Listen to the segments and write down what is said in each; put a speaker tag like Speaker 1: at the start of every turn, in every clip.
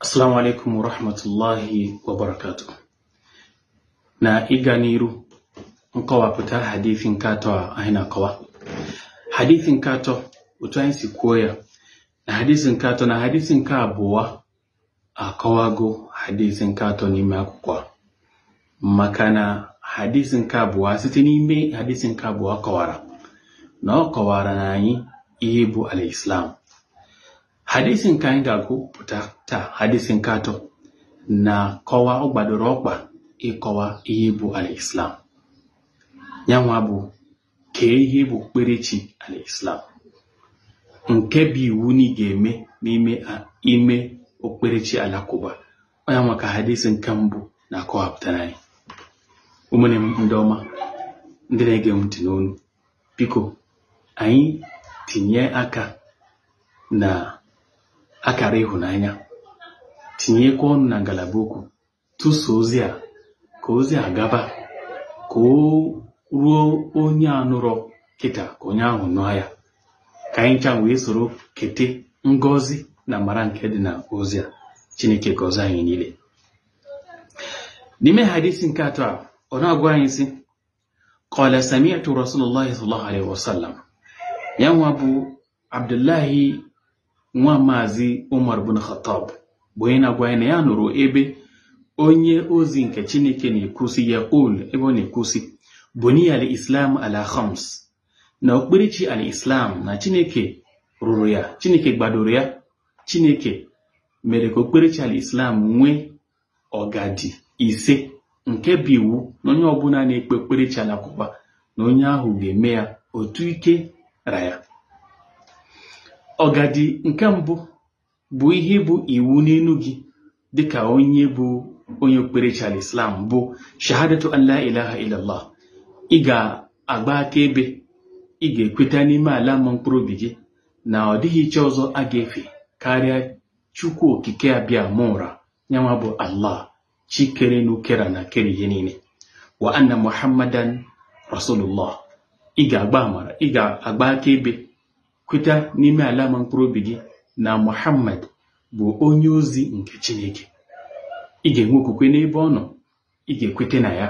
Speaker 1: Assalamu alaikum wa rahmatullahi wa barakatuh. Na ịga n'iru nkọwapụta hadith nke atọ a anyị na-akọwa. Hadith nke atọ otu anyị si kwuo ya na hadith nke atọ na hadith nke abụọ akọwago hadith nke atọ n'ime akwụkwọ a. maka na hadith nke abụọ site n'ime hadith nke abụọ kọwara na ọ kọwara na anyị ihe bụ al-Islam hadisi nke anyị ga-agụpụta taa hadisi nke atọ na-akọwa ọ gbadoro ọkpa ịkọwa ihe bụ al-islam ya nwa bụ kee ihe bụ okpukperechi al-islam nke bụ iwu na ị ga-eme n'ime okpukperechi alakụba ọ ya nwa ka hadisi nke mbụ na-akọwapụtara anyị ụmụnne m ndị ọma ndị na-ege m ntị n'onu biko anyị tinye aka na akara ịhụnanya tinyekwa ọnụ na ngalaba okwu tụso ozi a ka ozi a gaba ka o ruo onye anụrọ kịta ka onye ahụ nụọ ya ka anyị ncha wee soro kete ngọzi na amara nke dị na ozi a chineke gọzie anyị niile n'ime hadisi nke atọ a ọ na-agwa anyị sị qala sami'tu rasulullahi sallallahu alaihi wasallam ya nwa bụ abdullahi nwa maazị umar bin khattab bụ onye na-agwa anyị na ya nụrụ ebe onye ozi nke chineke na-ekwu sị yaqul ebe ọ na-ekwu sị buniya al-islam ala khams na okpukperechi al-islam na chineke rụrụ ya chineke gbadoro ya chineke mere ka okpukperechi al-islam nwee ogidi ise nke bụ iwu na onye ọbụla na-ekpe okpukperechi alakụba na onye ahụ ga-eme ya otu ike ra ya ogidi nke mbụ bụ ihe bụ iwu n'elu gị dịka onye bụ onye okpukperechi al-islam bụ shahadatu an la ilaha illallah ị ga-agba akaebe ị ga-ekweta n'ime ala ma mkpụrụ obi gị na ọ dịghị chi ọzọ a ga-efe karịa chukwu okike abịama ụra nyanwa bụ allah chi kere enu kere ana kere ihe niile wa anna muhammadan rasulullah ị ga-agba ama ị ga-agba akaebe kweta n'ime ala ma mkpụrụ obi gị na muhammad bụ onye ozi nke chineke ị ga-enwe okwukwe n'ebe ọ nọ ị ga-ekweta na ya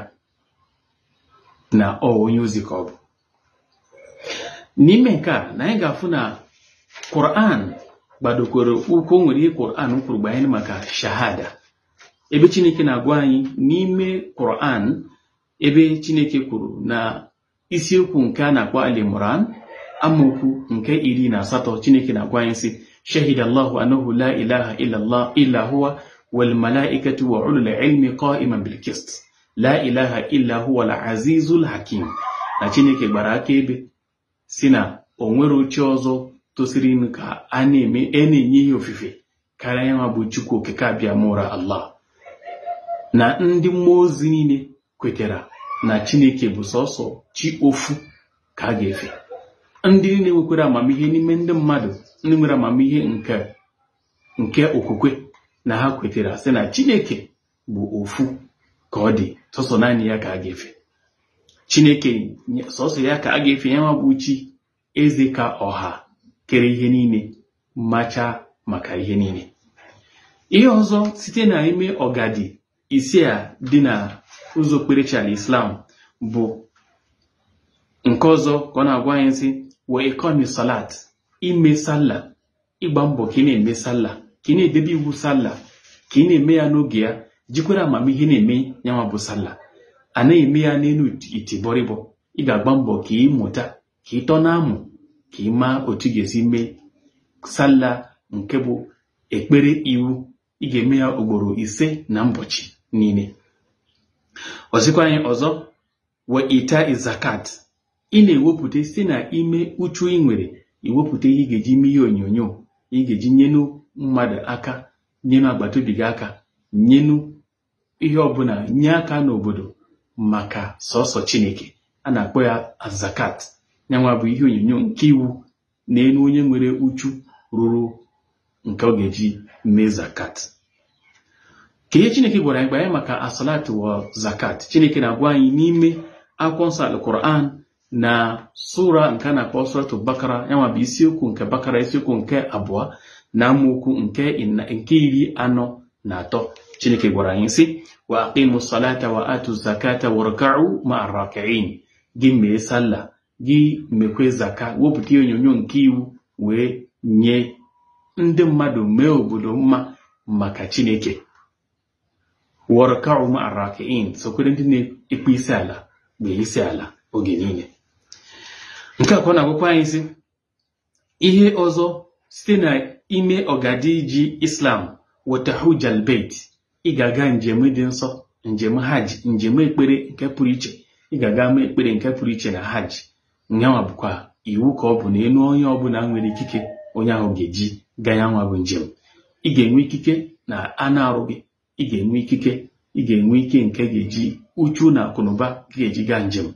Speaker 1: na ọ onye ozi ka ọ bụ n'ime nke a na anyị ga-afụ na Quran gbadokwere ụkwụ nwere ihe Quran kwuru gbanyere maka shahada ebe Chineke na-agwa anyị n'ime Quran ebe Chineke kwuru na isiokwu nke a na-akpọ Ali Imran amaokwu nke iri na asatọ Chineke na-agwa anyị sị shahida Allahu annahu la ilaha illa huwa wal malaikatu wa ulul ilmi qa'iman bil qist la ilaha illa huwal azizul hakim na chineke gbara akaebe sị na o nwerọ chi ọzọ tosirinụ ka a na-enye ihe ofufe karịa ya nwa bụ chukwu okike abịamụra allah na ndị mmụọ ozi niile kwetara na chineke bụ sọsọ chi ofu ka a ga-efe ndị niile nwekwara amamihe n'ime ndị mmadụ ndị nwere amamihe nke okwukwe na ha kwetara sị na chineke bụ ofu ka ọ dị sọsọ naanị ya ka a ga-efe chineke sọsọ ya ka a ga-efe ya nwa bụ chi eze ka ọha kere ihe niile macha maka ihe niile ihe ọzọ site na ime ọgadi ise a dị na ụzọ okpukperechi al-islam bụ nke ọzọ ka ọ na-agwa anyị sị wa iqami salat ime sallah ịgba mbọ ka ị na-eme sallah ka ị na-edebe iwu sallah ka ị na-eme ya n'oge ya jikwere amamihe na-eme yanwa bụ sallah a naghị eme ya n'elu itibọrịbọ ị ga-agba mbọ ka ị mụta ka ị tọ na-amụ ka ị maa otu ị ga-esi mee sallah nke bụ ekpere iwu ị ga-eme ya ugboro ise na mbọchị niile ọ sịkwa anyị ọzọ wa ita'i zakat ị na-ewepụta site na ime uchu ị nwere ị wepụta ihe ị ga-eji mee ihe onyonyo ị ga-eji nyenu mmadụ aka nyenu agbata obi gị aka nyenu ihe ọbụla nye aka n'obodo maka sọsọ chineke a na-akpọ ya azakat nyanwa bụ ihe onyonyo nke iwu na elu onye nwere uchu ruru nke ọ ga-eji mee zakat ka ihe chineke gwara anyị gbanye maka asalat wa zakat chineke na-agwa anyị n'ime akwụkwọ nsọ alquran na sura nke a na-akpọ suratul bakara yanwa bụ isiokwu nke bakara isiokwu nke abụọ na amaokwu nke iri anọ na atọ chineke gwara anyị sị wa aqimu salata wa atu zakata warka'u ma'a raki'in gị mee sallah gị mekwe zaka wepụta ihe onyonyo nke iwu wee nye ndị mmadụ mee obodo mma maka chineke warka'u ma'a raki'in sokwere ndị na-ekpe isi ala kpee isi ala oge niile nke a ka ọ na-agwakwa anyị sị ihe ọzọ site na ime ọgadi ji islam watahujal beit ị ga-aga njem dị nsọ njem hajj njem ekpere nke pụrụ iche ị ga-aga mee ekpere nke pụrụ iche na hajj yanwa bụkwa iwu ka ọ bụ na enu onye ọbụla nwere ikike onye ahụ ga-eji gaa ya nwa bụ njem ị ga-enwe ikike na anụ arụ gị ị ga-enwe ikike ị ga-enwe ike nke ga-eji uchu na akụnụba gị ga-eji gaa njem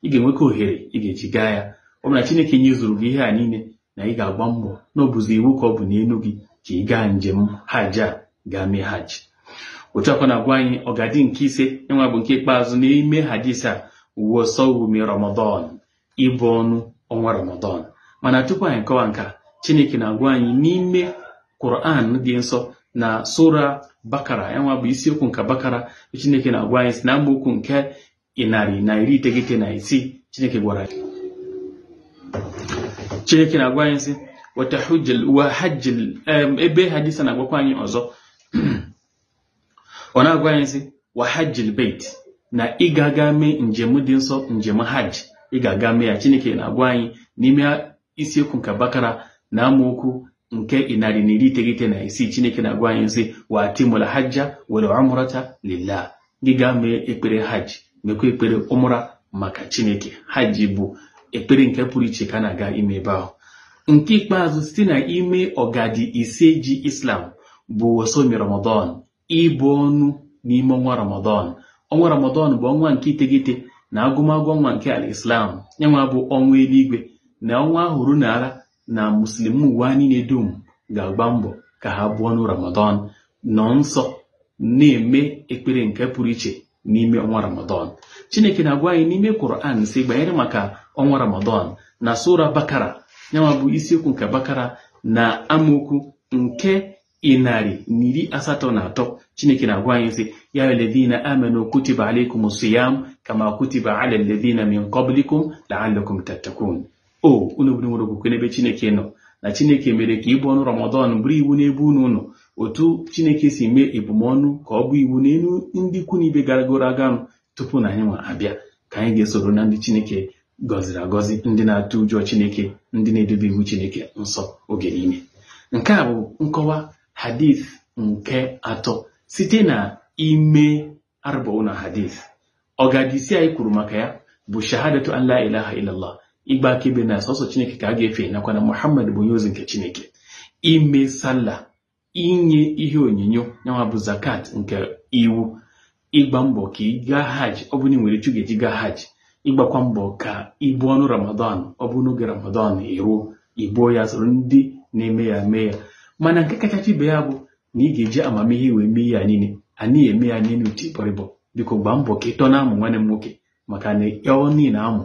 Speaker 1: ị ga-enwekwa ohere ị ga-eji gaa ya ọ bụ na Chineke nyezuru gị ihe a niile na ị ga-agba mbọ na ọ bụzi iwu ka ọ bụ n'enu gị ka ị gaa njem hajj a gaa mee hajj otu a kwa na-agwa anyị ọgadi nke ise yanwa bụ nke ikpeazụ n'ime hadis a wa sawmi ramadan ibu ọnụ ọnwa Ramadan mana tupu anyị kọwa nke a Chineke na-agwa anyị n'ime Quran dị nsọ na sura bakara yanwa bụ isiokwu nke bakara Chineke na-agwa anyị sị na amaokwu nke ịnarị na iri iteghete na isii Chineke gwara anyị Chineke na-agwa anyị sị wata hajjil ebe hadis a na-agwakwa anyị ọzọ ọ na-agwa anyị sị wa hajjil beit na ị ga-aga mee njem dị nsọ njem hajj ị ga-aga mee ya chineke na-agwa anyị n'ime isiokwu nke bakara na amaokwu nke ịnarị na iri iteghete na isii chineke na-agwa anyị sị wa atimul hajja wal umrata lillah gị gaa mee ekpere hajj mekwa ekpere umra maka chineke hajj bụ ekpere nke pụrụ iche ka a na-aga ime ebe ahụ nke ikpeazụ site na ime ọgadi ise ji islam bụ wasomi ramadan ibu ọnụ n'ime ọnwa ramadan ọnwa ramadan bụ ọnwa nke iteghete na agụmagụ ọnwa nke al islam yanwa bụ ọnwa eluigwe na ọnwa ahụ ruo na ala na muslim ụwa niile dum ga-agba mbọ ka ha buo ọnụ ramadan nọ nsọ na-eme ekpere nke pụrụ iche n'ime ọnwa ramadan chineke na-agwa anyị n'ime Quran sị banyere maka ọnwa ramadan na sura bakara yanwa bụ isiokwu nke bakara na amaokwu nke ịnarị na iri asatọ na atọ chineke na-agwa anyị sị ya alladhina amanu kutiba alaykum siyam kama kutiba ala alladhina min qablikum la'allakum tattaqun o unu bụ ndị nwere okwukwe n'ebe chineke nọ na chineke mere ka ibu ọnụ ramadan bụrụ iwu n'ebe unu nọ otu chineke si mee ebumọnụ ka ọ bụ iwu n'enu ndị ikwu na ibe garagoro aganụ tupu na anyị nwa abịa ka anyị ga-esoro na ndị Chineke gọziri agọzi ndị na-atụ ụjọ Chineke ndị na-edebe iwu Chineke nsọ oge niile nke a bụ nkọwa hadith nke atọ site na ime arba'una hadith ọgadi ise anyị kwuru maka ya bụ shahadatu an la ilaha illallah ịgba akaebe na sọsọ Chineke ka a ga-efe nakwa na Muhammad bụ onye ozi nke Chineke ime salla inye ihe onyinyo yanwa bụ zakat nke iwu ịgba mbọ ka ị gaa hajj ọ bụ na ị nwere etu ga-eji gaa hajj ịgbakwa mbọ ka i buo ọnụ ramadan ọ bụ n'oge ramadan eruo i buo ya soro ndị na-eme ya mee ya mana nke kachacha ibe ya bụ na ị ga-eji amamihe wee mee ya niile anaghị eme ya n'elu iti bọrịbọ biko gbaa mbọ ka ịtọ na-amụ nwanne m nwoke maka na ọ n'elu amụ